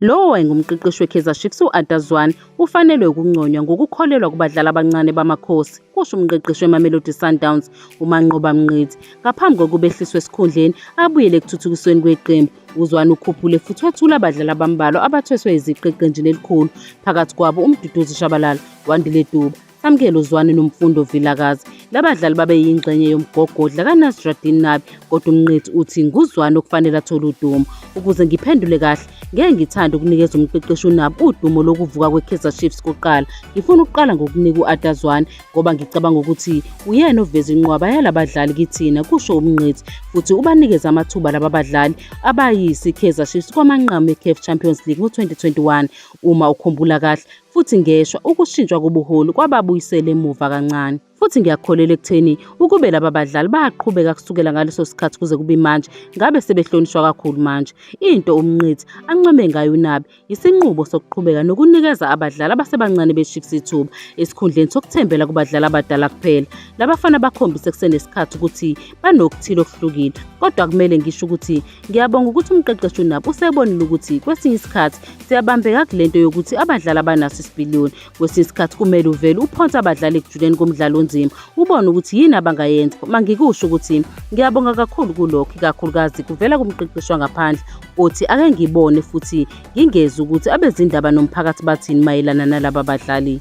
Lowo wayengumqeqeshi weKaizer Chiefs u-Arthur Zwane ufanelwe ukunconywa ngokukholelwa kubadlali abancane baMakhosi, kusho umqeqeshi weMamelodi Sundowns uManqoba Mngqithi. Ngaphambi kokuba ehliswe esikhundleni abuyele ekuthuthukisweni kweqembu, uZwane ukhuphule futhi wethula abadlali abambalwa abathweswe iziqu eqenjini elikhulu, phakathi kwabo uMduduzi Shabalala, Wandile Duba, Samkelo Zwane noMfundo Vilakazi. Labadlali babe yingxenye yomgogodla kaNasruddin Nabi kodwa uMnqithi uthi nguZwane okufanele athole udumo. Ukuze ngiphendule kahle, ngeke ngithande ukunikeza umqeqeshi uNabi udumo lokuvuka kweKaizer Chiefs kuqala. Ngifuna ukuqala ngokunika u-Ada Zwane ngoba ngicabanga ukuthi uyena oveza inqwaba yalabadlali kithina, kusho uMnqithi. Futhi ubanikeza amathuba laba badlali abayisi Kaizer Chiefs kwamanqamu eCAF Champions League ngo-2021. Uma ukhumbula kahle, futhi ngeshwa ukushintshwa kobuholi kwababuyisela emuva kancane futhi ngiyakholelwa ekutheni ukube laba badlali baqhubeka kusukela ngaleso sikhathi kuze kube manje ngabe sebehlonishwa kakhulu manje into umnqithi ancome ngayo unabi yisinqubo sokuqhubeka nokunikeza abadlali abasebancane bechiefs ithuba esikhundleni sokuthembela kubadlali abadala kuphela labafana bakhombise kusenesikhathi ukuthi banokuthile okuhlukile kodwa kumele ngisho ukuthi ngiyabonga ukuthi umqeqeshi unabo usebonile ukuthi kwesinye isikhathi siyabambeka kule nto yokuthi abadlali abanaso isipiliyoni kwesinye isikhathi kumele uvele uphonse abadlali ekujuleni komdlalo onzima ubone ukuthi yini abangayenza uma ngikusho ukuthi ngiyabonga kakhulu kulokho ikakhulukazi kuvela kumqeqeshi wangaphandle othi ake ngibone futhi ngingezi ukuthi abezindaba nomphakathi bathini mayelana nalaba badlali